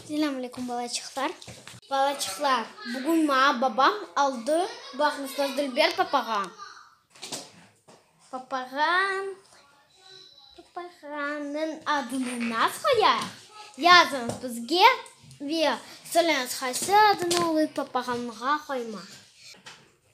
Selam aleyküm balaçıqlar. Balaçıqlar, bugün maña babam aldı, baqıñızlar, dülber papağan. Papağan, papağannıñ adını nasıl qoyayıq? Yazıñız bizge ve söyleñiz, qaysı adını olıp papağanğa qoymaq.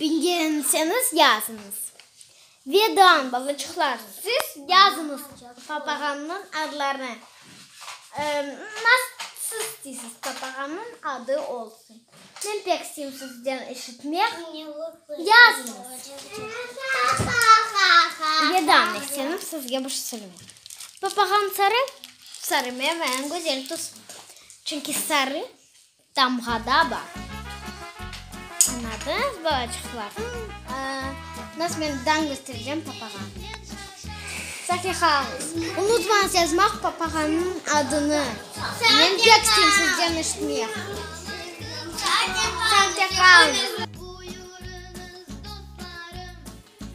Beceremeseñiz, yazıñız. Vedam, balaçıqlar, siz yazıñız papağannıñ adlarını. Nasıl isteysiz, papağannıñ adı olsun. Men pek isteyim sizden eşitmek. Yazıñız. Vedam, esenim sizge bir sürüm. Papağan sarı, sarı mevem, güzel tus. Çünki sarı Tamğada bar. Anladınız bu açıqlar? Nasıl men dan köstereceğim papağa? Safiha, unutmañız yazmaq papağanıñ adını. Men pek isteyim sizden eşitmek. Sağ te qalñız.